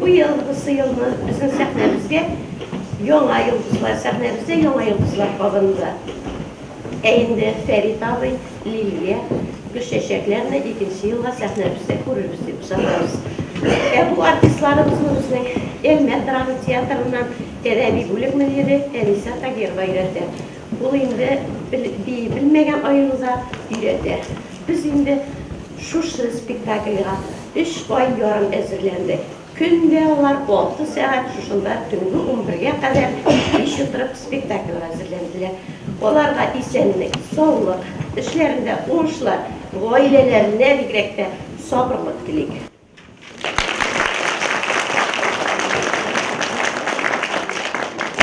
Бу ел, бусы елны безнең сәхнәбезгә яңа йолдызлар, сәхнәбездә яңа йолдызлар кабынды. Ә инде Фәрит абый, Лилия, Гөлчәчәкләрне икенче елга сәхнәбездә күрербез дип ышанабыз. Ә бу артистларыбызны безнең Әлмәт драма театрыннан Тәдәби бүлек мөдире Әниса Тагирова өйрәтә. Ул инде бии белмәгән аеруда өйрәтә. Без инде шушы спектакльгә Өч ай ярым әзерләнде. Көн дә алар алты сәгать шушында төнге унбергә кадәр кич утырып спектакльгә әзерләнделәр. Аларга исәнлек, саулык, эшләрендә уңышлар, гаиләләренә бигрәк тә сабырлык телик.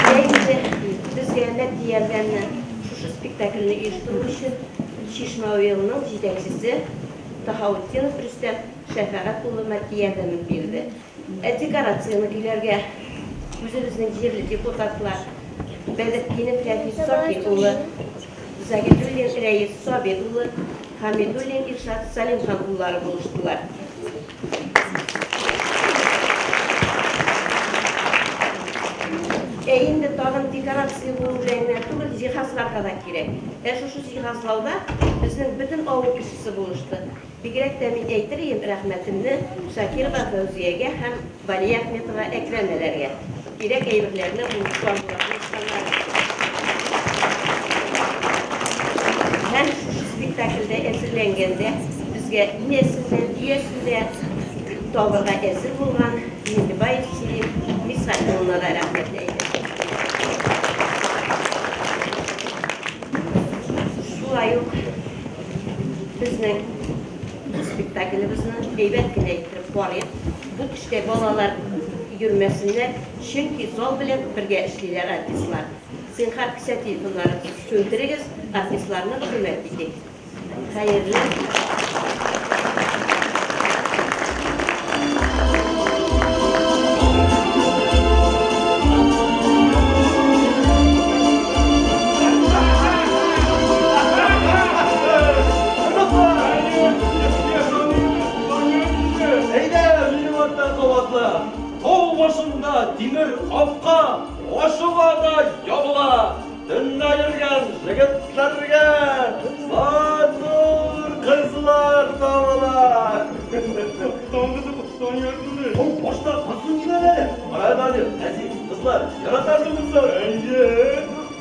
Бәйгене безгә матди ярдәмне шушы спектакльне оештыру өчен Чишмә уелының җитәкчесе, Таһаутдинов Рөстәм Шәфәгать улы матди ярдәмен бирде. Ә декорацияне көйләргә үзебезнең җирле депутатлар Бәдретдинов Рәфис Сафин улы, Заһидуллин Рәис Сабир улы, Хәмидуллин Илшат Сәлимхан уллары булыштылар. Ә инде тагын декорация булу белән генә түгел, җиһазларга да кирәк. Ә шушы җиһазлауда безнең бөтен авыл кешесе булышты. Бигрәк тә мин әйтер идем рәхмәтемне Шакирова Фәүзиягә һәм Балия Әхметова Әкрәм-әләргә. Кирәк әйберләрне уңышлар булырга ышанабыз. Һәм шушы спектакльдә әзерләнгәндә безгә инәсен дә, дөясен дә табырга әзер булган Миңлебаев Сирин Мирсафи улына да рәхмәт әйтәм. Шулай ук безнең спектаклебезне әйбәт кенә иттереп карыйк. Бу төштә балалар йөрмәсеннәр, чөнки зал белән бергә эшлиләр артистлар. Зинһар, кесә телефоннарын сүндерегез, артистларны хөрмәт итик. Хәерле! Әйдә, минем артта кабатла! Тау башында тимер капка ачыла да ябыла. Төнлә йөргән җегетләргә матур кызлар табыла. Тау башта кызны җибәрәләр. Кара әле, әзиз кызлар, яратасыңмы соң? Әйе.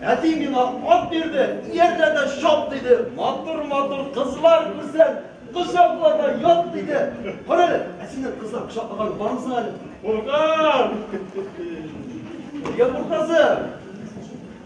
Әти миңа ат бирде, иярдәдә шап диде, матур-матур кызлар күрсән, кочакларда ят диде. Кара әле, ә синең кызлар кочаклаган бармысың әле? Куркам! Нигә куркасың?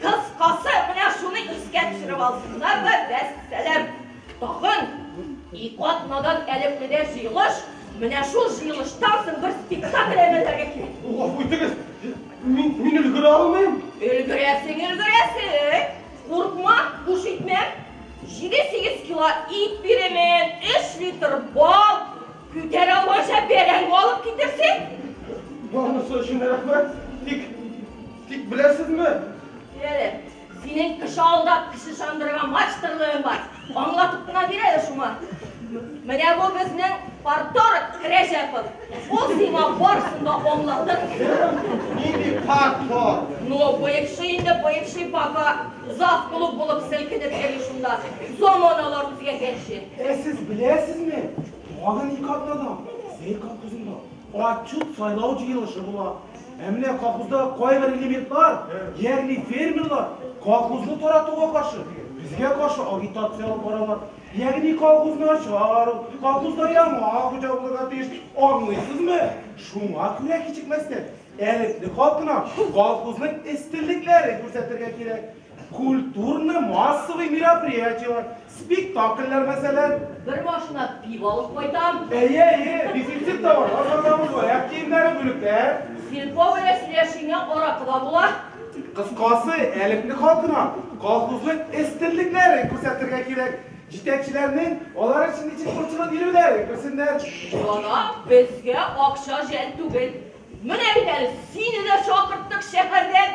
Кыскасы, менә шуны искә төшереп алсыннар да, вәссәлам. Тагын ике атнадан әлепкедә җыелыш, менә шул җыелыштан соң бер спектакль әйбәрләргә кирәк. Гафу итегез, мин, мин өлгерә алмыйм. Өлгерәсең, өлгерәсең. Куркма, буш итмәм. Җиде-сигез кило ит бирәмен, өч литр бал, күтәрә алмыйча бәрәңге алып китерсең. Барынысы өчен рәхмәт, тик Тик беләсезме? Бир әле. Синең кеше алдап, кеше чандырырга мачтырлыгың бар. Аңлатып кына бир әле шуңа. Менә бу безнең парторг Рәҗәпов. Ул сиңа барсын да аңлатыр. Нинди парторг? Ну, бывший инде, бывший пока завклуб булып селкенеп йөри шунда. Заманалар үзгәргәнче. Ә сез беләсезме, тагын ике атнадан Зәй колхозында Отчет сайлау җыелышы була. Ә менә колхоздагы кайбер элементлар, ягъни фермерлар, колхозны таратуга каршы, безгә каршы агитация алып баралар. Ягъни колхоз начар ул, колхозда яңа хуҗа булырга тиеш, аңлыйсызмы? Шуңа күрә кичекмәстән, элекле халкына колхозның өстенлекләрен күрсәтергә кирәк. Культурный массовый мероприятиелар, спектакльләр мәсәлән. Бер машина пиво алып кайтам. Әйе, әйе, дефицит товарлар сатабыз, аяк киемнәре бүлектә. Сельпо белән сөйләшкәнгә аракы да була. Кыскасы, әлепне халкына колхозның өстенлекләрен күрсәтергә кирәк. Җитәкчеләрнең алар өчен ничек борчылып йөрүләрен күрсеннәр. Ана, безгә акча жәл түгел. Менә бит әле сине дә чакырттык шәһәрдән.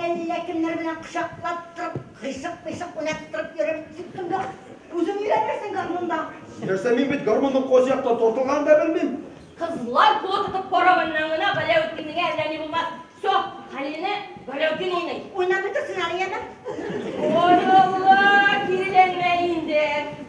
Әллә кемнәр белән кочаклап торып, кыйшык-пыйшык уйнаттырып йөрер. Тик тында үзең өйрәнерсең гармунда. Нәрсә, мин бит гармунның кайсы яктан тартылганын да белмим. Кызлар кулы тотып каравыннан гына Галәүтдинеңә әллә ни булмас. Все, Хәлилне Галәүтдин уйный. Уйнап бетерсен әле яме. Ой, Алла, киреләнмә инде.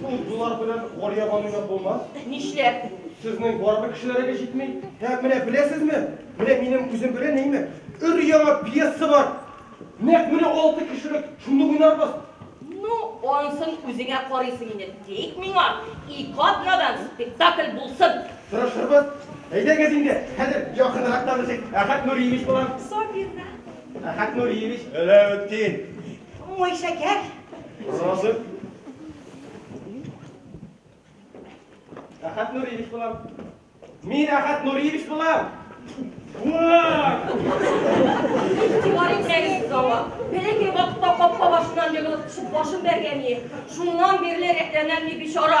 Шул дулар белән Галия баныйны булмас. Нишләп? Сезнең барбер кешеләрегез җитми. Һәм менә беләсезме, менә минем үзем белән нәймә, өр-яңа пьеса бар. Нәкъ менә алты кешелек, шуны уйнарбыз. Ну, ансын үзеңә карыйсың инде. Тик миңа ике атнадан спектакль булсын. Тырышырбыз. Әйдәгез инде, хәзер якынрак танышыйк. Әхәт Нуриевич булам. Сабина. Әхәт Нуриевич. Галәветдин. Мой шәкәр. Роза. Рахат Нуриевич булам. Мин Рахат Нуриевич булам. Бар итәгез зала. Бәләкәй вакытта капка башыннан егылып төшеп башын бәргән ие. Шуннан бирле рәтләнәм ни бичара.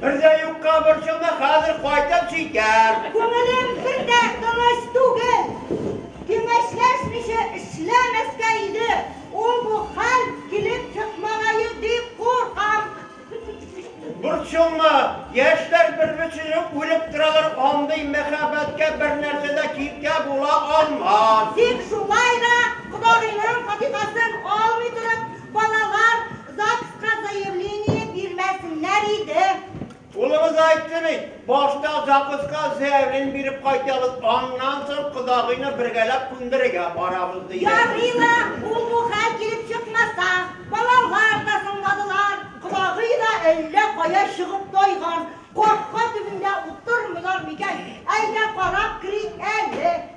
Бер дә юкка борчылма, хәзер кайтып җитәр. Күңелем бер дә тыныч түгел. Киңәшләшмичә эшләмәскә иде, ул бу хәл килеп чыкмагае дип куркам. Борчылма, яшьләр бер-берсенең үлеп торалар, андый мәхәббәткә бер нәрсә дә киртә була алмас. Тик шулай да, кодагыйның фатихасын алмый торып, балалар ЗАГСка заявление бирмәсеннәр иде. Улыгыз айтты бит, башта ЗАГСка заявление биреп кайтабыз, аннан соң кодагыйны бергәләп күндерергә барабыз диде. Ярый ла, ул бу хәл килеп чыкмаса, балалар да соңладылар, кодагый да әллә кая чыгып тайган, капка төбендә утырмыйлар микән, әйдә карап керик әле.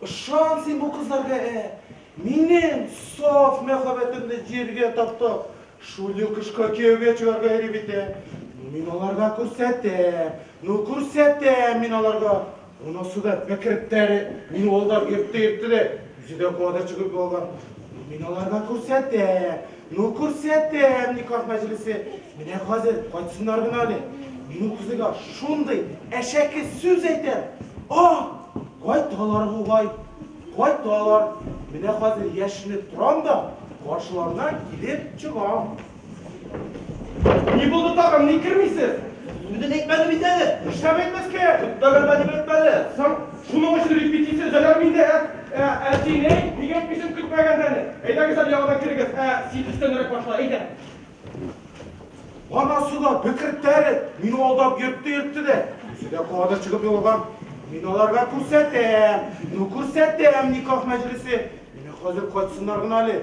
Ышан син бу кызларга, ә! Минем саф мәхәббәтемне җиргә таптап, шундый кышка кияүгә чыгарга йөри бит, ә! Ну, мин аларга күрсәтәм! Ну, күрсәтәм мин аларга! Монысы да бәкеректәре, мине алдан иртте-иртте дә, үзе дә куа да чөгерде алга. Ну, мин аларга күрсәтәм! Ну күрсәтәм никах мәҗлесе. Менә хәзер кайтсыннар гына әле. Мин ул кызыйга шундый әшәке сүз әйтәм. А! Кайталар бугай. Кайталар. Менә хәзер яшенеп торам да, каршыларына килеп чыгам. Ни булды тагын, ник кермисез? Үзен әйтмәде бит әле. Нишләп әйтмәскә? Көтмәгәндә дип әйтмәде. Соң? Шуның өчен репетиция зәләр миндә. Ә, ә син, әй, ник әйтмисең көтмәгәндә әле? Әйдәгез әле яңадан керегез. Ә, син өстәнрәк башла, әйдә. Анасы да бекертте әле, мине алдап йөртте-йөртте дә. Үзе дә кадыр чыгып егылган. Мин аларга күрсәтәм, ну күрсәтәм никах мәҗлесе. Менә хәзер кайтсыннар гына әле.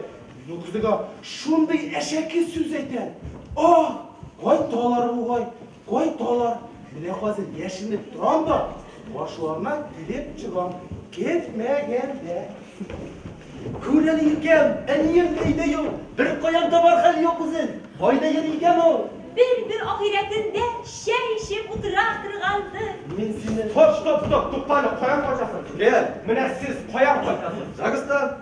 Мин ул кызыга шундый әшәке сүз әйтәм. Ах, кайталар бугай. Кайталар, менә хәзер яшеренеп торам да, каршыларына килеп чыгам, көтмәгәндә. Күрәли икән, әнием өйдә юк, беркаян табар хәл юк үзен, кайда йөри икән ул? Бер-бер ахирәтендә чәй эчеп утыра торгандыр. Мин сине. Тот, тот, тот, тукта әле, каян кайтасың? Лен, менә сез каян кайтасыз? Загстан.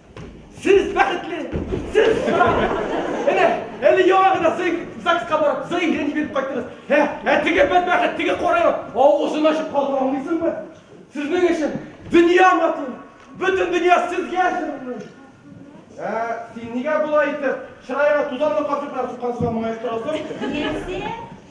Сез бәхетле! Сез сау! Әнә, әле яңа гына ЗАГСка барып, заявление биреп кайттыгыз. Ә, ә теге бәдбәхет, теге карайлар, авызын ачып калдыра алмыйсыңмы? Сезнең өчен дөнья матур, бөтен дөнья сезгә җырлый. Ә син нигә болай итеп, чыраеңа тузанлы капчыклар суккансыга моңаеп торасың? Нәрсә?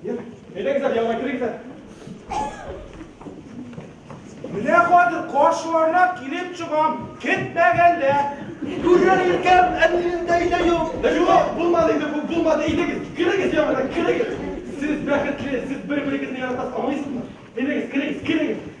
Әйдәгез, яңа керегез. Менә хәзер каршыларына килеп чыгам, китмәгәндә. Күргән икән, әлендә иде юк. Юк, булмады инде, бу булмады. Әйдәгез, керегез яңадан, керегез. Сез бәхетле, сез бер-берегезне яратасыз, аңлыйсызмы? Әйдәгез, керегез, керегез.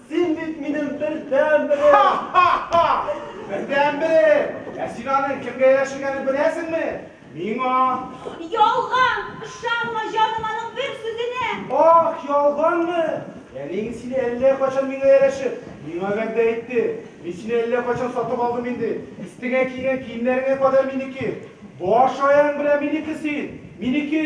Син бит минем бердәнберем! Ха-ха-ха! Бердәнберем! Ә син аның кемгә яшергәнен беләсеңме? Миңа! Ялган! Ышанма, җаным, аның бер сүзенә! Ах, ялганмы? Әниең сине әллә кайчан миңа ярәшеп, миңа вәгъдә итте. Мин сине әллә кайчан сатып алдым инде. Өстеңә кигән киемнәреңә кадәр минеке. Баш аяң белән минеке син! Минеке!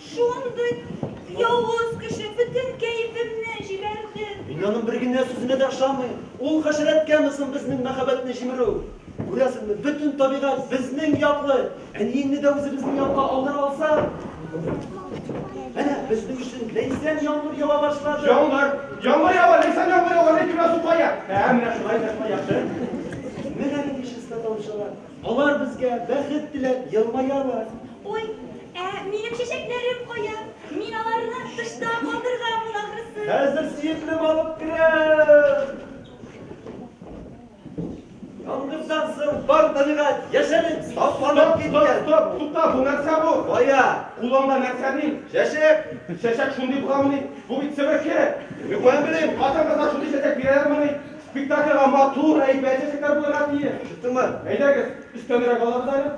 Шундый явыз кеше бөтен кәефемне җибәрде. Мин аның бер генә сүзенә дә ышанмыйм. Ул хәшәрәткәме соң безнең мәхәббәтне җимерү? Күрәсеңме, бөтен табигать безнең яклы. Әниеңне дә үзебезнең якка алдыра алсак? Әнә, безнең өчен ләйсән яңгыр ява башлады. Яңгыр! Яңгыр ява, ләйсән яңгыр ява, ләкин менә су кая? Ә, менә шулай да шулай яхшы. Менә нинди чиста тавыш алар. Алар безгә бәхет теләп елмаялар. Ой, ә минем чәчәкләрем кая? Мин аларны тышта калдырганмын ахрысы. Хәзер сөеклем алып керәм. Яңгырдан соң бар табигать яшәреп, сафланып киткән. Стоп, тукта, бу нәрсә бу? Кая? Кулыңда нәрсә ни? Чәчәк. Чәчәк шундый буламыни? Бу бит себерке. Юк, белмим. Хатын-кызлар шундый чәчәк бирәләрмени? Спектакльгә матур, әйбәт чәчәкләр булырга тиеш. Чыктыңмы? Әйдәгез, өстәнрәк алабыз әле.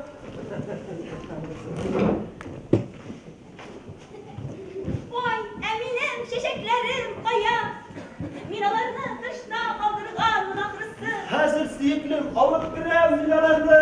Ой, ә минем чәчәкләрем кая? Мин аларны тышта калдырганмын ахрысы. Хәзер, сөеклем, алып керәм мин аларны.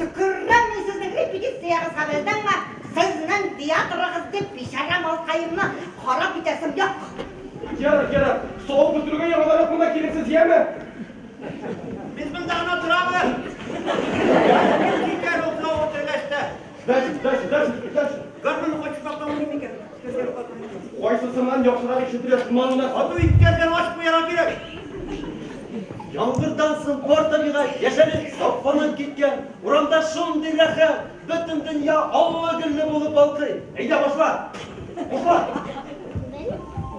Төкеррәм мин сезнең репетициягезгә белдеңме? Сезнең театрыгыз дип бичара малкаемны харап итәсем юк. Ярар, ярар, савык бөтерүгә яңадан монда килерсез, яме? Без монда гына торабыз. Без китәр ул савык бетергәч тә. Дальше, дальше, дальше, дальше. Гармунны кайтып сакламый микән? Кайсысыннан яхшырак ишетелә, шуннан гына сату иткәндән ачып куярга кирәк. Яңгырдан соң бар табигать яшәнеп, сафланып киткән. Урамда шундый рәхәт, бөтен дөнья аллы-гөлле булып балкый. Әйдә башла! Башла!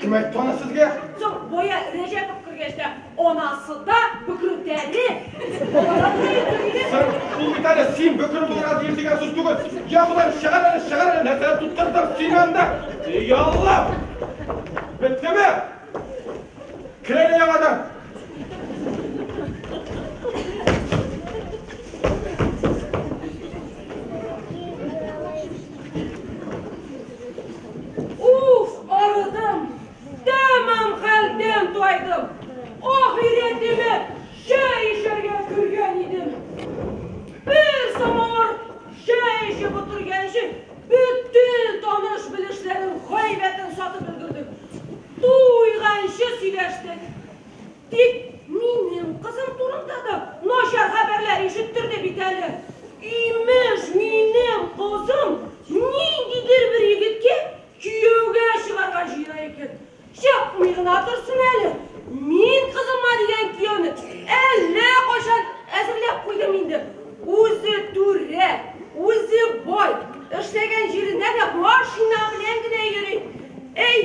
Кем әйтте аны сезгә? Соң Боя Рәҗәпов кергәч тә анасы да бөкрүтәле. Син шул бит әле син бөкре булырга тиеш дигән сүз түгел. Я Ходай, чыгар әле, чыгар әле, нәрсә тоттырдың син анда? Эй Алла! Беттеме? Кер әле яңадан. Уф, арыдым, тәмам хәлдән тайдым. Ахиретемә чәй эчәргә кергән идем. Бер самавыр чәй эчеп утырганчы бөтен таныш белешләрнең гайбәтен сатып өлгердек. Туйганчы сөйләштек. Тик минем кызым турында да начар хәбәрләр ишеттерде бит әле. Имеш, минем кызым ниндидер бер егеткә кияүгә чыгарга җыя икән. Чыкмый гына торсын әле, мин кызыма дигән кияүне әллә кайчан әзерләп куйдым инде. Үзе түрә, үзе бай, эшләгән җиренә дә машина белән генә йөри. Әй,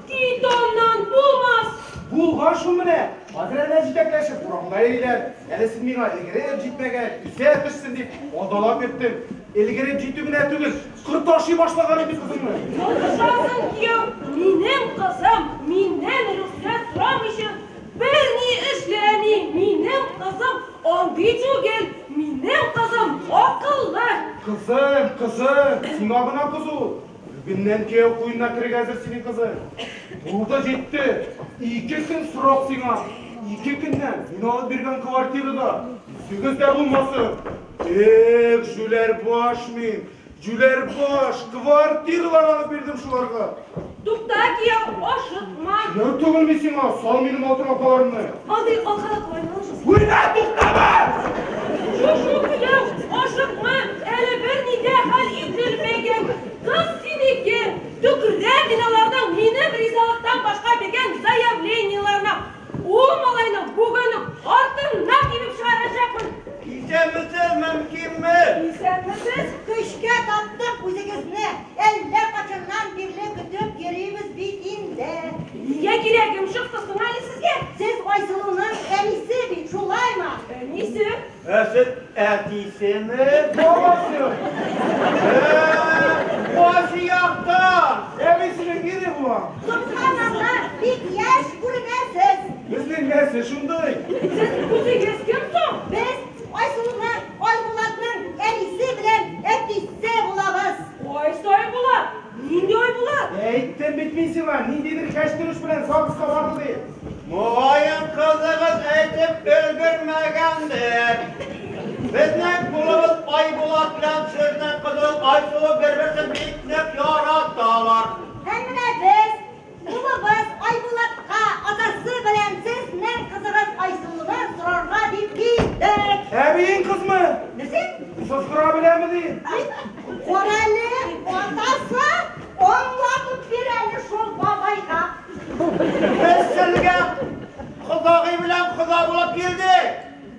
Титоннан булмас! Булган шул менә! Хәзер әнә җитәкләшеп урамда йөриләр. Әле син миңа өлгереп җитмәгән, үсә төшсен дип азалап йөрттең. Өлгереп җитү генә түгел, корт ашый башлаган инде кызыңны. Язышасың, кияү, минем кызым, миннән рөхсәт сорамыйча берни эшләми, минем кызым андый түгел, минем кызым акыллы. Кызым, кызым, сиңа гына кыз ул. Бүгеннән кияү куенына керергә әзер синең кызың. Булды да җитте. Ике көн срок сиңа. Ике көннән мин алып биргән квартирада үзегез дә булмасын. Эх, җүләр баш мин, җүләр баш, квартиралар алып бирдем шуларга. Тукта, кияү, ашыкма. Кияү түгелме сиңа, сал минем алтын апаларымны. Андый алкалап болай барасыз. Уйна, туктама! Шушу көләү, ашыкма, әле берни дә хәл ителмәгән. Кыз синеке! Төкердә мин аларның минем ризалыктан башка биргән заявлениеләренә! Ул малайның бүген үк артыннан тибеп чыгарачакмын! Исәнмесез, мэм Киммел! Исәнмесез! Көчкә таптык үзегезне, әллә качаннан бирле көтеп йөрибез бит инде. Нигә кирәк йомшыксыз гына әле сезгә? Сез Айсылуның әнисе бит, шулаймы? Әнисе? Ә сез әтисеме? Бабасы! Башы якта! Әбисенең ире була! Томсаннанда бик яшь күренәсез! Безнең нәсе шундый! Сез үзегез кем соң? Без Айсылуның, Айбулатның әнисе белән әтисе булабыз! Ай сай була! Нинди ай була? Әйттем бит мин сиңа, ниндидер кәчтүреш белән ЗАГСка барды дип. Могаен кызыгыз әйтеп өлгермәгәндер. Безнең кулыбыз Айбулат белән Ширнә кызыл Айсылу бер-берсен бик нык яраталар. Һәм менә без Улыбыз Айбулатка атасы белән сез нең кызыгыз Айсылуны сорарга дип килдек. Әбиең кызмы? Нәрсә? Состыра беләме ди? Карале, атасы аңлатып бир әле шул бабайга. Без сезгә кодагый белән кода булып килдек.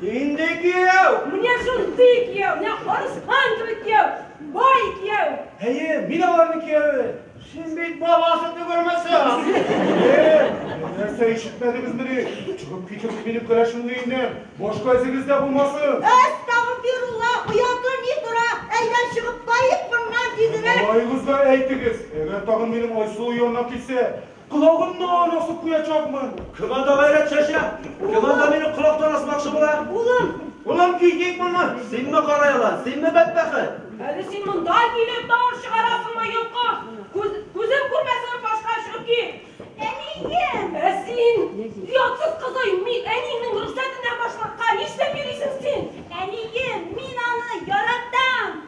Нинди кияү? Менә шундый кияү, менә арыслан кебек кияү, бай кияү. Әйе, мин аларның кияүе. Син бит баласы түгелмесең. Нәрсә ишетмәдегезмени? Чыгып китеп минем кәләшемне инде. Башка эзегез дә булмасын. Әстәгъфирулла, ояты ни тора? Әйдә чыгып кайык моннан, дидерәк. Малаегызга әйтегез, әгәр тагын минем Айсылу янына килсә, Колагымны аны асып куячакмын. Кем анда гайрәт чәчә? Кем анда мине колактан асмакчы була? Улым! Улым, китик моннан! Синме кара ялан? Синме бәдбәхет? Әле син монда килеп тавыш чыгарасыңмы, йолкыш? Күз, күзем күрмәсен, башка чыгып кит! Әнием! Ә син, оятсыз кызый, мин әниеңнең рөхсәтеннән башкакка нишләп йөрисең син? Әнием, мин аны яратам!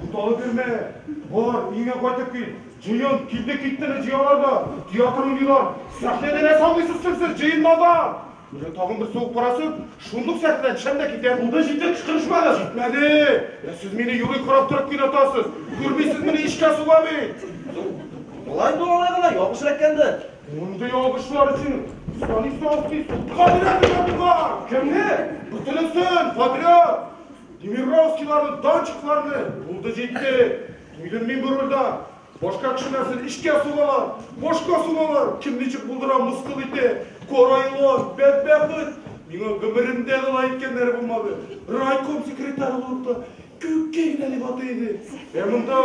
Буталып йөрмә! Бар, өеңә кайтып кил! Җыен! Килде-киттене җыялар да, театр уйныйлар! Сәхнәдә нәрсә уйныйсыз соң сез, җыенмада? Менә тагын бер сугып карасын, шундук сәхнәдән төшәм дә китәм! Булды, җитте, кычкырышмагыз! Җитмәде! Ә сез мине юри карап торып кинатасыз! Күрмисезмени, эчкә суга бит! Болай дуалай гына ялгыш эләккәндер. Мондый ялгышлар өчен Станиславский судка бирәбез ятуга! Кемне? Бөтенесен, подряд! Демировскийларны, Данчикларны, булды җитте, туйдым мин бу рульда. Башка кеше нәрсен эчкә сугалар, башка сугалар, кем ничек булдыра, мыскыл итә, карайлар, бәдбәхет. Миңа гомеремдә дә алай иткәннәре булмады. Райком секретарь булып та күккә генә дип атый иде. Ә монда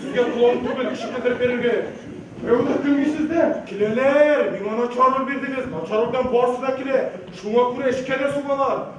сезгә план түгел кеше китереп бирергә. Ә ул килми сездә? Киләләр, миңа начар роль бирдегез, начар рольдән барысы да килә. Шуңа күрә эчкә дә сугалар.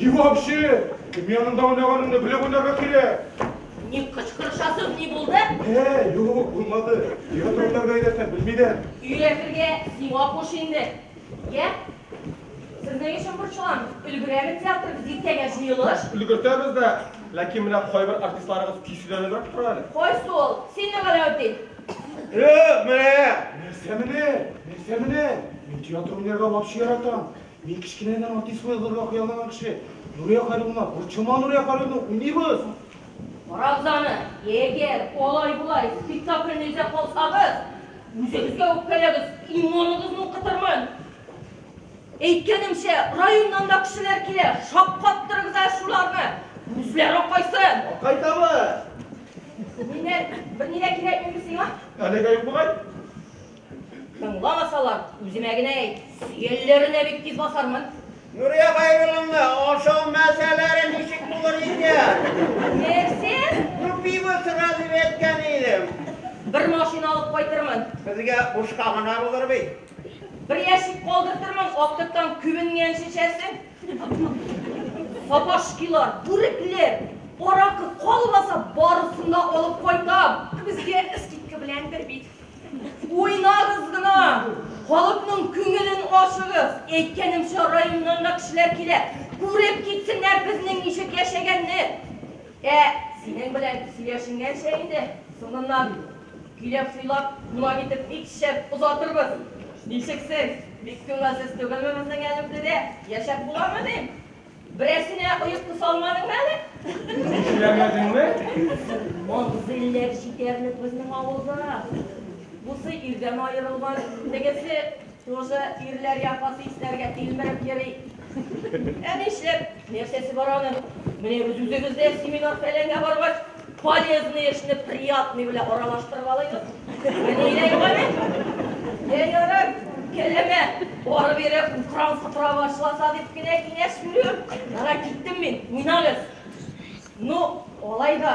И вообще, кем янында уйнаганыңны белеп уйнарга кирәк. Ни кычкырышасың, ни булды? Ә, юк, булмады. Нигә турында бәйләсәң, белмидем. Өйрәтергә сиңа куш инде. Йә, сезнең өчен борчылам. Өлгерәме театрыбыз дистәгә җыелыш? Өлгертәбез дә, ләкин менә кайбер артистларыгыз көйсезләнебрәк тора әле. Кайсы ул? Синме, Галәүдин? Юк, менә! Нәрсә менә? Нәрсә менә? Мин театр уйнарга вообще яратам. Мин кечкенәдән артист булырга хыяллаган кеше. Нурия Хәйруллина, борчылма Нурия Хәйруллина, уйныйбыз. Карагыз аны, егер алай-болай спектакльне эзләп калсагыз, үзегезгә үпкәләгез, иммуныгызны укытырмын. Әйткәнемчә, районнан да кешеләр килә, шаккаттырыгыз әле шуларны! Күзләр акайсын! Акай табы! Миннән берни дә кирәкмиме сиңа? Әлегә юк бугай. Тыңламасалар, үземә генә әйт, сөялләренә бик тиз басармын. Нурия Хәйрулловна, ашау мәсьәләре ничек булыр икән? Нәрсә? Ну, пиво сыра дип әйткән идем. Бер машина алып кайтырмын. Безгә бушка гына булыр бит. Бер ящик калдыртырмын, актыктан күбенгән шешәсен. Сабашкилар, бүрекләр, аракы калмаса, барысын да алып кайтам. Безгә скидка белән бер бит. Уйнагыз гына, халыкның күңелен ачыгыз. Әйткәнемчә, районнан да кешеләр килә. Күреп китсеннәр безнең ничек яшәгәнне. Ә, синең белән сөйләшенгәнчә инде, соңыннан көйләп-сыйлап, кунак итеп бик шәп озатырбыз. Ничек сез, бик күңелсез түгелме безнең Әлемдедә? Яшәп буламы, дим? Берәрсенә оек тоса алмадыңмы әле? Икеләмәдеңме? Мавзыйләр җитәрлек безнең авылда. Бусы ирдән аерылган, тегесе Тузы ирләргә каты исләргә тилмереп йөри. Ә нишләп? Нәрсәсе бар аның? Менә без үзебез дә семинар-фәләнгә баргач, полезный эшне приятный белән аралаштырып алыйбыз. Менә иләй гали. Йә ярар, кәләмә, барып ире утран сыпыра башласа дип кенә киңәш бирүем. Ярар, киттем мин, уйнагыз. Ну, алай да.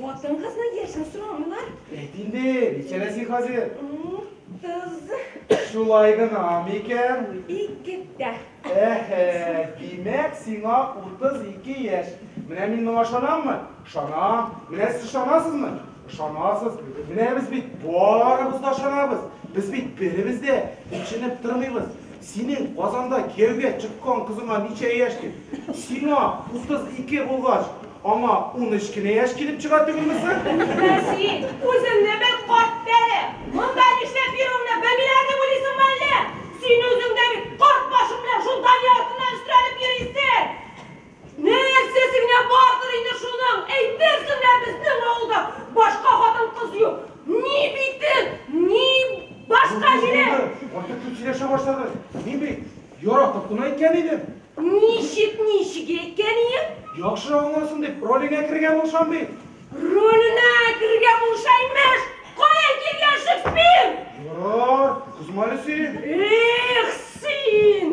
Хатын-кызны яшәү сорамыйлар. Әйт инде, ничәдә син хәзер? Утыз. Шулай гына микән? Икедә. Әһә, димәк, сиңа утыз ике яшь. Менә мин моңа ышанаммы? Ышанам. Менә сез ышанасызмы? Ышанасыз. Менә без бит барыбыз да ышанабыз. Без бит беребез дә төченеп тормыйбыз. Синең Казанда кияүгә чыккан кызыңа ничә яшь? дип. Сиңа 32 булгач, аңа унөч кенә яшь килеп чыга түгелме соң? Ә син үзеңне бер карт тәре, монда нишләп йөрүеңне белмиләр дип уйлыйсыңмы әллә? Син үзең дә бит карт башың белән шул Дания артыннан өстерәлеп йөрисең! Нәрсә сеңә бардыр инде шуның, әйтерсең лә безнең авылда башка хатын-кыз юк. Ни битен, ни башка җиле. Булды, булды, артык күп сөйләшә башладың. Мин бит яратып кына әйткән идем. Ничек, ничек әйткән иең? Яхшы аңласын дип, ролеңә керергә булышам бит. Роленә керергә булыша, имеш! Каян килгән Шекспир? Ярар, кызма әле син. Эх, син!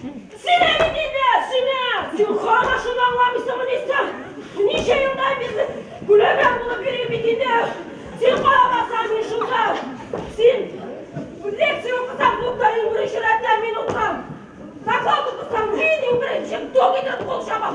Син әле нидә, син ә? Син хана шуны аңламыйсыңмы ни соң? Ничә елдан бирле күләгә булып йөрим бит инде. Син карамасаң мин шунда. Син лекция укысаң, клубта иң беренче рәттә мин утырам. Доклад укысаң, мин иң беренче тук итеп кул чаба.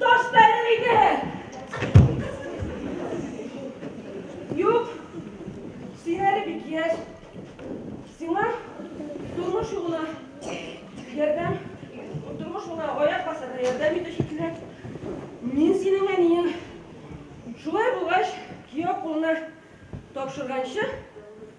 Таш бәрер иде. Юк, син әле бик яшь. Сиңа тормыш юлына ярдәм, тормыш юлына аяк басарга ярдәм итүче кирәк. Мин синең әниең. Шулай булгач, кияү кулына тапшырганчы,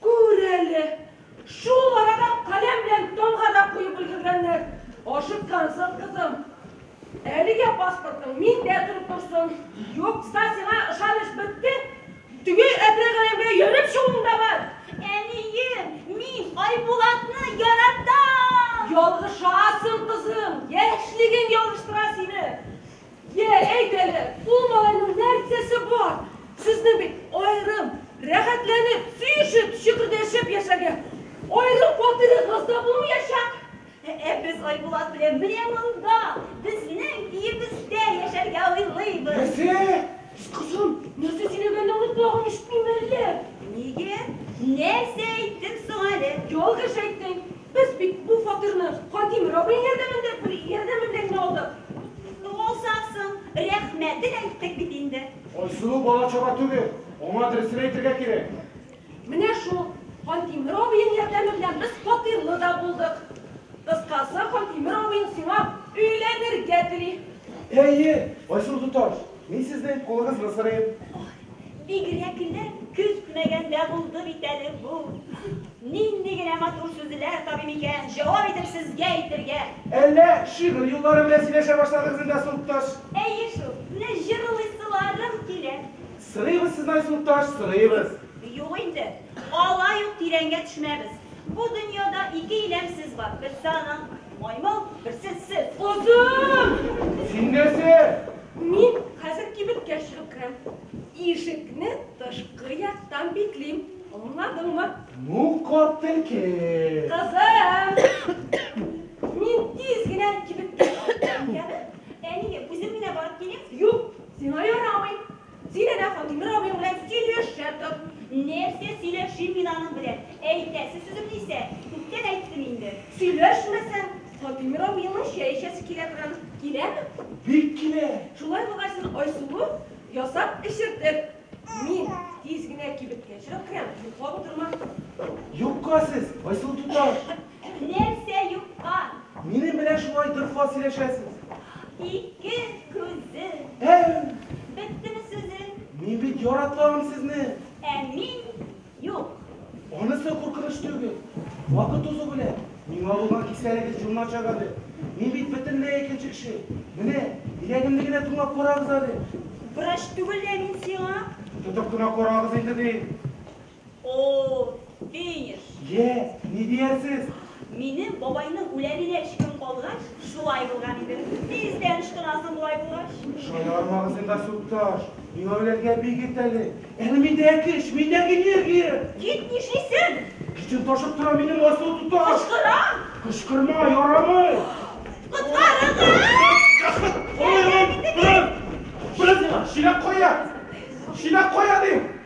Күр әле, шул арада каләм белән томга да куеп өлгергәннәр. Ашыккансың, кызым. Әлегә паспортың миндә торып торсын. Юкса сиңа ышаныч бетте, теге әтрәк әрәмгә йөреп чыгуың да бар. Әнием, мин Айбулатны яратам! Ялгышасың, кызым, яшьлегең ялгыштыра сине. Йә, әйт әле, ул малайның нәрсәсе бар? Сезне бит аерым, рәхәтләнеп, сөешеп, чөкердәшеп яшәргә аерым фатирыгыз да булмаячак. Ә без Айбулат белән менә монда, безнең өебездә яшәргә уйлыйбыз. Нәрсә? Кызым, нәрсә сөйләгәнне онытмаган ишетмиме әллә? Нигә? Нәрсә әйттем соң әле? Ялгыш әйттең. Без бит бу фатирны Кадим Раббый ярдәмендә бер ярдәме белән генә алдык. Ну алсак соң, рәхмәтен әйттек бит инде. Айсылу бала-чага түгел, аңа дөресен әйтергә кирәк. Менә шул Кадим Раббыең ярдәме белән без фатирлы да булдык. Кыскасы, Кадим Раббыең сиңа өйләнергә тели. Әйе, Айсылу туташ, мин сезнең кулыгызны сорыйм. Бигрәкләр көтмәгәндә булды бит әле бу. Нинди генә матур сүзләр табыйм икән, җавап итеп сезгә әйтергә. Әллә шигырь юллары белән сөйләшә башладыгыз инде, Сукташ? Әйе шул, менә җырлыйсыларым килә. Сорыйбыз сездән, Сукташ, сорыйбыз. Юк инде, алай ук тирәнгә төшмәбез. Бу дөньяда ике иләмсез бар, берсе аның. Маймыл, берсе сез. Озын! Син нәрсә? Мин хәзер кибеткә чыгып керәм. Ишекне тышкы яктан биклим. Аңладыңмы? Ну, кат телке. Кызым! Мин тиз генә кибеткә чыгып керәм, әнием, үзем генә барып киләм. Юк, сиңа ярамый. Зиләдә Хатимир абый белән сөйләшәбез. Нәрсә сөйләшим мин аның белән? Әйтәсе сүземне исә күптән әйттем инде. Сөйләшмәсәң, Хатимир абыеңның чәй эчәсе килә торыр. Киләме? Бик килә! Шулай булгач, син айсуы ясап эчертер. Мин тиз генә кибеткә чыгып керәм, йоклап утырма. Юкка сез, Айсылу туташ! Нәрсә юккан? Минем белән шулай дорфа сөйләшәсез. Ике күзе. Әй! Беттеме сүзе? Мин бит яратамын сезне. Ә мин юк. Анысы куркыныч түгел. Вакыт узу белән, миңа булган кисәлегез җурначак әле. Мин бит бөтенләй икенче кеше. Менә, йөрәгемне генә тыңлап карагыз әле. Врач түгел лә мин сиңа. Тотып кына карагыз инде, дим. Оо, финиш! Йә, ни диясез? Минем бабайның үләненә өч көн калгач, шулай булган иде. Тиздән ычкынасың болай булгач. Шаярмагыз инде, Астукташ. Миңа үләргә бик иртә әле. Әле миндә көч, миндә энергия! Кит, нишлисең? Көчем ташып тора минем, Астутуташ! Кычкырам! Кычкырма, ярамый! Коткарыгыз! Чиләк кая? Чиләк кая, дим!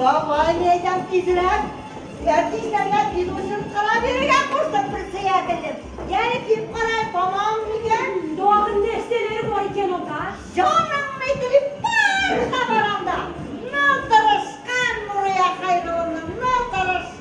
Давай, мин әйтәм, тизрәк! Әти эшләргә тиз булсын, кара бирергә кушты председателем. Яни киеп карай, тамам микән? Тагын нәрсәләр бар икән анда? Җаныңны итеп барса бар анда. Нал тырышкан Нурыя Хәйрулланың нал тырыш.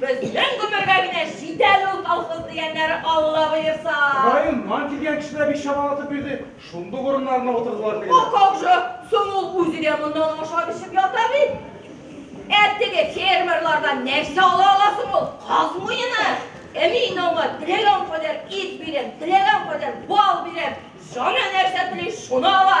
Безнең гомергә генә җит әле ул колхоз дигәннәр, Алла боерса. Район нан килгән кешеләр бик чамалатып бирде, шундук урыннарына утырдылар тегеләр. А как же, соң ул үзе дә моннан ашап-эчеп ята бит. Ә теге фермерлардан нәрсә ала ала соң ул? Каз муены! Ә мин аңа теләгән кадәр ит бирәм, теләгән кадәр бал бирәм, җаны нәрсә тели, шуны ала.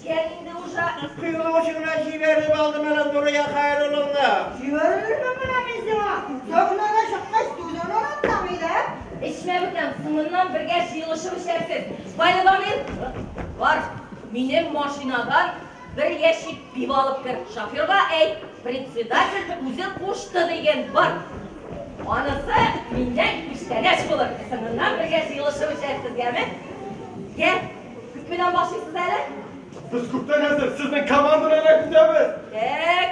Йә инде уша. Сыйлау өчен генә җибәреп алдым әле Нурия Хәйрулловна. Җибәрермен менә мин сиңа. Сәхнәгә чыккач түзен онытсаң иде. Эчмә, бүтән, соңыннан бергә җыелышып эчәрсез. Байламир, бар, минем машинадан бер ящик пиво алып кер. Шоферга әйт, председатель үзе кушты диген, бар. Анысы миннән күчтәнәч булыр. Соңыннан бергә җыелышып эчәрсез, яме? Йә. Күп белән башлыйсыз әле? Без күптән әзер, сезнең команда белән көтәбез. Тәк,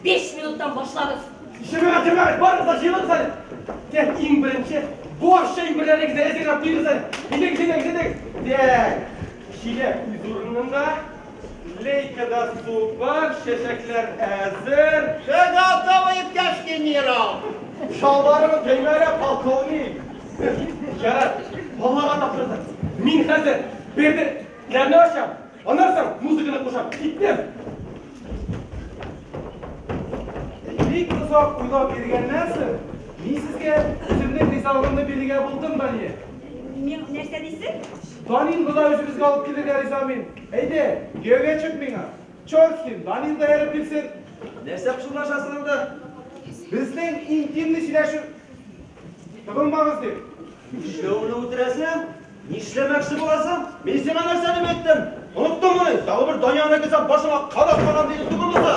5 минуттан башлагыз. Ишегә тимәк, барыгыз да җыелыгыз әле. Тәк, иң беренче, баш әйберләрегезне әзерләп куегыз әле. Идегез, идегез, идегез. Тәк, шилә күз урынында. Лейкада су бар, чәчәкләр әзер. Все готово, иптәш генерал! Чалбарыгыз төймәле, полковник! Ярар, Аллага тапшырдык. Мин хәзер берде ләрне ачам, аннан соң музыканы кушам. Киттем! Бик озак уйлап йөргәннән соң, мин сезгә үземнең ризалыгымны бирергә булдым, Дания. Мин нәрсә дисең? Данин гына үзебезгә алып килергә риза мин. Әйдә, кияүгә чык миңа! Чорт син, Данил да эреп килсен! Нәрсә пышылдашасың анда? Безнең интимный сөйләшү. Тыгылмагыз дим. Нишләүне үтерәсең? Нишләмәкче буласың? Мин сиңа нәрсә дип әйттем? Оныттыңмыни? Тагы бер Данилны кесәп башыңа кадак кагам диде тыгылмаса!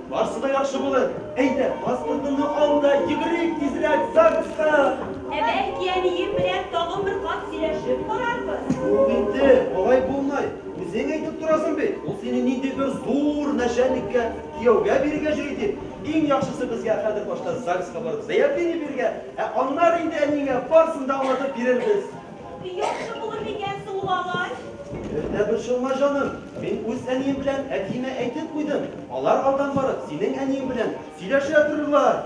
Барсы да яхшы булыр. Әйдә, паспортыңны ал да йөгерик тизрәк ЗАГСка! Ә бәлки әнием белән тагын бер кат сөйләшеп карарбыз? Юк инде, алай булмый. Үзең әйтеп торасың бит, ул сине нинди бер зур нәчәлниккә кияүгә бирергә җыйый дип. Иң яхшысы безгә хәзер башта ЗАГСка барып заявление бирергә, ә аннары инде әниеңә барсын да аңлатып бирербез. Яхшы булыр микән соң ул агач? Бер дә борчылма, җаным. Мин үз әнием белән әтиемә әйтеп куйдым. Алар алдан барып синең әниең белән сөйләшә торырлар.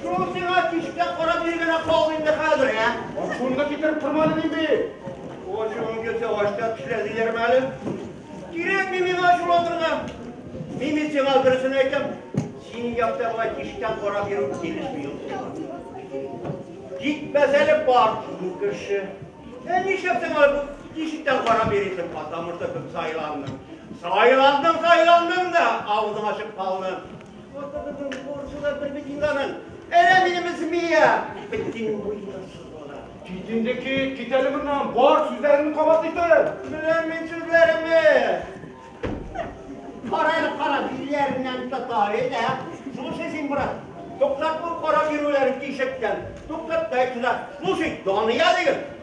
Шул сиңа тишкә карап йөргәнә калды инде хәзер, ә? Ашуымны китереп тормадым инде. Ашуың килсә, ачта тешлә диерме әле? Кирәкми миңа ачуланырга. Мин бит сиңа дөресен әйтәм. Синең якта болай тишкә карап йөрү килешми ул сиңа. Китмәс әле бар шул кеше. Ә нишләп син алай тишектән карап йөрисең, потому что кем сайланды? Сайландың, сайландың да, авызың ачып калды. Спортыбызның спортчы да бер бит инганын. Әнә минемез Мия. Битен буена сызгала. Кит инде кит, кит әле моннан. Бар сүзләреңне кабат итеп. Беләм мин сүзләремне. Кара әле кара, билләреннән тота, әйдә. Слушай син, брат. Туктат бу кара бирүләрен тишектән. Туктат та әйтсә. Слушай, Дания диген.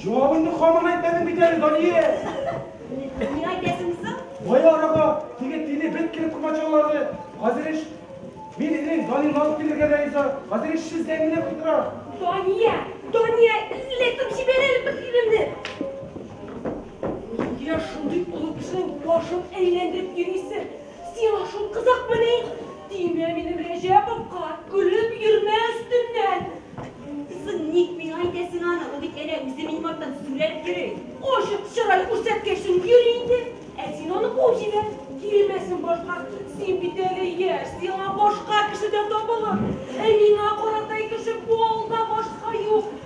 Җавабыңны хаман әйтмәдең бит әле, Дания! Ни әйтәсең соң? Кая арага, теге тиле бет килеп комачаулады. Хәзер еш мин инең Данилны алып килергә дә риза. Хәзер еш сүз дәңгеле куйдыра. Дания! Дания! Эзләтеп җибәрәле бер тилемне! Нигә шундый олы кешенең башын әйләндереп йөрисең? Сиңа шул кызыкмыни? Тимә минем Рәҗәповка, көлеп йөрмә өстеннән! Соң ник миңа әйтәсең аны, ул бит әнә үзе минем арттан сүрелеп йөри. Ачык чырай күрсәткәчең йөри инде, ә син аны куып җибәр, килмәсен башка. Син бит әле яшь, сиңа башка кеше дә табылыр. Ә миңа каратай кеше бу авылда башка юк.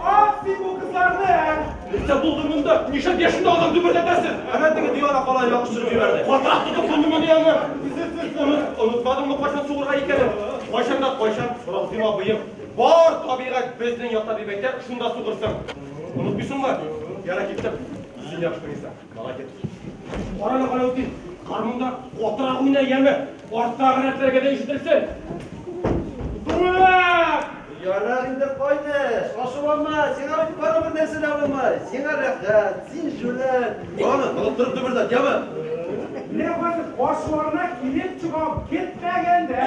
Ат син бу кызларны! Нәрсә булды монда? Нишләп яшендә адам дөберләтәсең? Әнә теге дивана калай ягыш төшереп җибәрде. Катырак тотып булдымы ди аны? Онытмадыңмы кайчан сугырга икәнен? Кайчан да кайчан Рахим абыем. Бар табигать безнең якта дип әйтә, шунда сугырсың. Онытмыйсыңмы? Ярар, киттем. Җил яхшы булса. Молодец. Кара да кара үтин. Гармунда котра уйна яме. Артта гына теләгә дә ишетелсен. Дура! Ярар инде кайтыш. Ашуланма, сиңа бит бары бер нәрсә дә булмай. Сиңа рәхәт, син җүләр. Аны тоттырып дөбердәт, яме. Менә хәзер каршыларына килеп чыгам, китмәгәндә.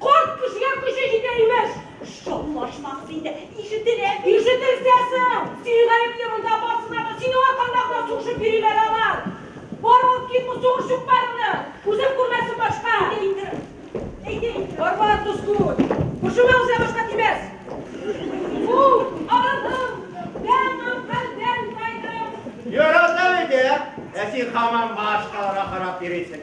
Карт кешегә көче җитә, имеш. Шаулашмагыз инде, ишетелә бит. Ишетелсә соң! Син гаепле монда барсына да, синең аркаңда гына сугышып йөриләр алар. Бар алып кит бу сугыш чукмагыңны, күзем күрмәсен башка. Әйдә инде, әйдә инде. Бар, бар, дус күңел, күршеңә уза башка тимәс. Фу, арыдым, тәмам хәлдән тайдым. Ярата бит, ә? Ә син һаман башкаларга карап йөрисең.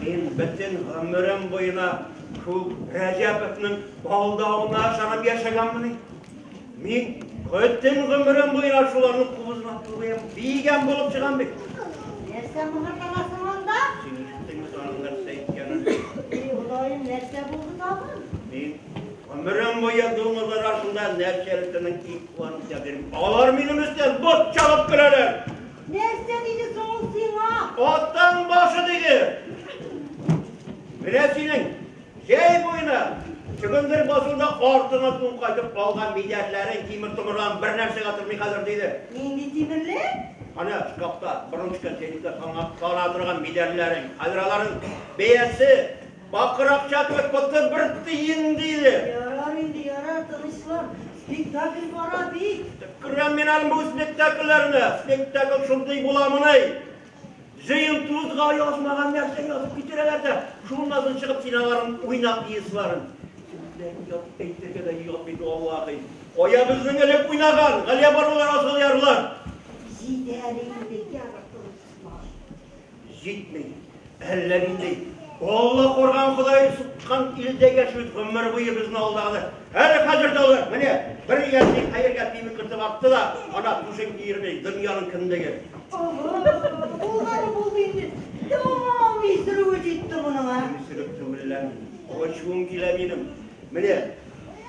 Мин бөтен гомерем буена шул Рәҗәповның алдавына ышанып яшәгәнмени? Мин бөтен гомерем буена шуларның кубызына тулыем, биегән булып чыгам бит. Нәрсә мыгырданасың анда? Син ишеттеңме саның нәрсә иткәнен? Эй, Ходаем, нәрсә булды тагын? Мин гомерем буе дуңгыз арасында нәрсәле телең ит куанып ятыйм. Алар минем өстән бот чабып көләләр. Нәрсә диде соң ул сиңа? Аттан башы диде. Менә синең җәй буена чөгендер басуда артына тун кайтып калган мидәрләрең тимер томырдан бер нәрсәгә тормый хәзер диде. Нинди тимерле? Ана шкафта, борынчыкта, сенекта сана торган мидәрләрең. Хәзер аларның бәясе Бакыр акча түгел, котны бер тиен, диде. Ярар инде, ярар, тынычлан. Спектакль бара бит. Күрәм мин әле бу спектакльләрне. Спектакль шундый буламыни? Җыен тузга язмаган нәрсә язып китерәләр дә, шуннан соң чыгып киноларын уйна пьесаларын. Күпләп ят әйтергә дә ят бит валлаһи. Кая безнең элек уйнаган, Галиябанулар, Асылъярлар. Җитәр инде, ярар, тынычлан. Җитми. Әллә нинди Алла курган Ходай суккан илдә яшибез гомер буе безне алдады. Әле хәзер дә алар, менә бер язны хәергә тими кыртып атты да, ана түшен киермей, дөньяның кендеге. Булган булды инде. Тәмам исерүе җитте моның, а? Исереп түгеллән. Ачуым килә минем. Менә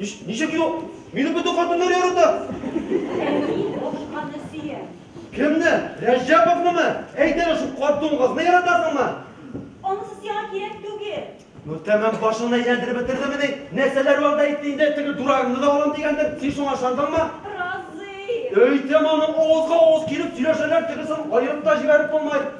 Ничек юк? Мине бөтен хатыннар ярата. Әни башканы сөя. Кемне? Рәҗәповнымы? Әйт әле шул карт дуңгызны яратасыңмы? Анысы сиңа кирәк түгел. Ну тәмам башыңны әйләндереп бетердеме ни? Нәрсәләр вәгъдә итте инде, теге дурагыңны да алам дигәндер. Син шуңа ышандыңмы? Разый. Өйтә моның авызга авыз килеп сөйләшәләр, тегесен аерып та җибәреп булмай.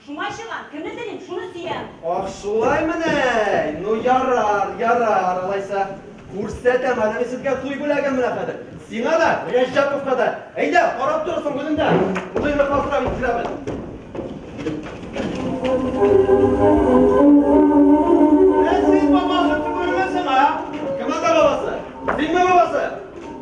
Шуңа чыгам, кемне телим, шуны сөям. Ах, шулаймыни? Ну, ярар, ярар, алайса, күрсәтәм әле мин сезгә туй бүләген менә хәзер. Сиңа да, Рәҗәповка да. Әйдә, карап торырсың үзеңдә. Туйны калдырам мин сиңа без. Ә син бабасы түгелме соң, а? Кем анда бабасы? Синме бабасы?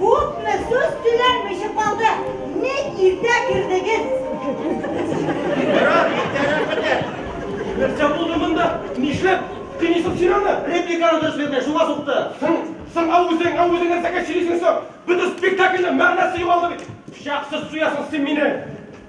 Күпме сүз сөйләнмичә калды. Ник иртә кердегез? Ярар, иртәрәк бетер. Нәрсә булды монда? Нишләп? Тенисов сөйләме? Репликаны дөрес бирмәй, шуңа сукты. Соң, соң ау үзең, ау үзең нәрсәгә сөйлисең соң? Бөтен спектакльнең мәгънәсе югалды бит. Пычаксыз суясың син мине.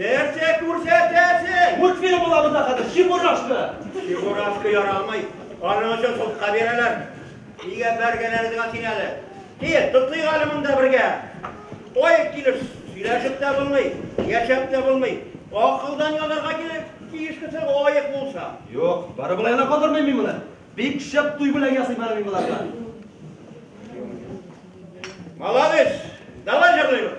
Нәрсә күрсәтәсең? Мультфильм була монда хәзер, Чебурашка! Чебурашка ярамый. Аның өчен судка бирәләр. Нигә бәргәләрегезгә син әле? Кил, тотыйк әле монда бергә. Таяк килеш сөйләшеп тә булмый, яшәп тә булмый. Акылдан язарга кирәк, тиеш кеше лаек булса. Юк, бары болай гына калдырмыйм мин моны. Бик шәп туй бүләге ясыйм әле мин боларга. Молодец! Давай җырлыйбыз!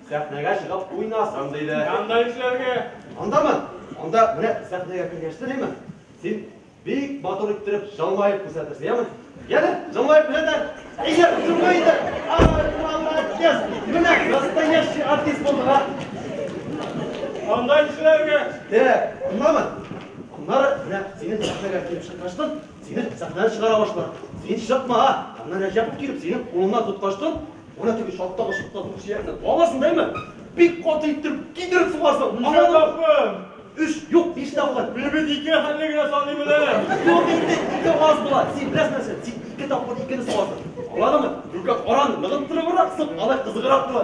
Сәхнәгә чыгып уйнасын, диде. Анда нишләргә? Андамы? Анда менә сәхнәгә кергәч телимен, син бик матур иттереп җылмаеп күрсәтерсең, яме? Яме, җылмаеп күрсәтәм. Әйдә, җылма инде. Ай, молодец! Менә настоящий артист булдың, а! Анда нишләргә? Так, андамы? Аннары менә синең сәхнәгә килеп чыккачтын, сине сәхнәдән чыгара башлар. Син чыкма, а! Аннан Рәҗәпов килеп синең кулыңнан тоткачтын, Менә теге чаттагы шыплату сөякне каласың да имән, бик каты иттереп кидереп сугарсың. Ничә тапкыр? Өч, юк, биш тапкыр. Мин бит ике хәлне генә саный беләм. Юк инде, ике аз була. Син беләсең нәрсә, тик ике тапкыр икене сугасың. Аңладыңмы? Түлке караны ныгыттырыбрак сып, алай кызыграк була.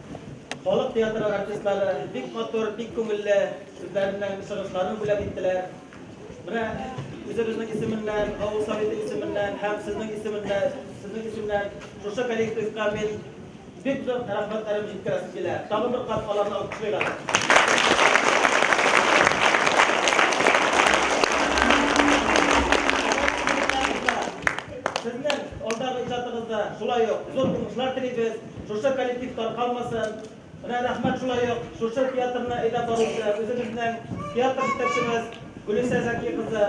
Халык театры артистлары бик матур, бик күңелле үзләренең чыгышларын бүләк иттеләр. Менә үзебезнең исеменнән, авыл Советы исеменнән һәм сезнең исеменнән, сезнең исемнән шушы коллективка мин бик зур рәхмәтләрем җиткерәсем килә. Тагын бер кат аларны алкышлыйк әле. Сезнең алдагы иҗатыгызда шулай ук зур уңышлар телибез. Шушы коллектив таркалмасын. Менә рәхмәт шулай ук шушы театрны әйдәп баручы үзебезнең театр җитәкчебез Гөлүсә Зәки кызы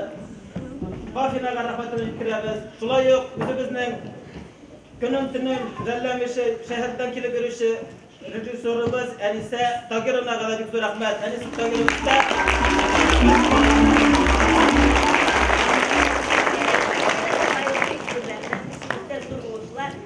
Фаһимәгә рәхмәтемне җиткерәбез. Шулай ук үзебезнең көнен-төнен жәлләмичә шәһәрдән килеп йөрүче режиссерыбыз Әнисә Тагировнага да бик зур рәхмәт. Әнисә Тагировна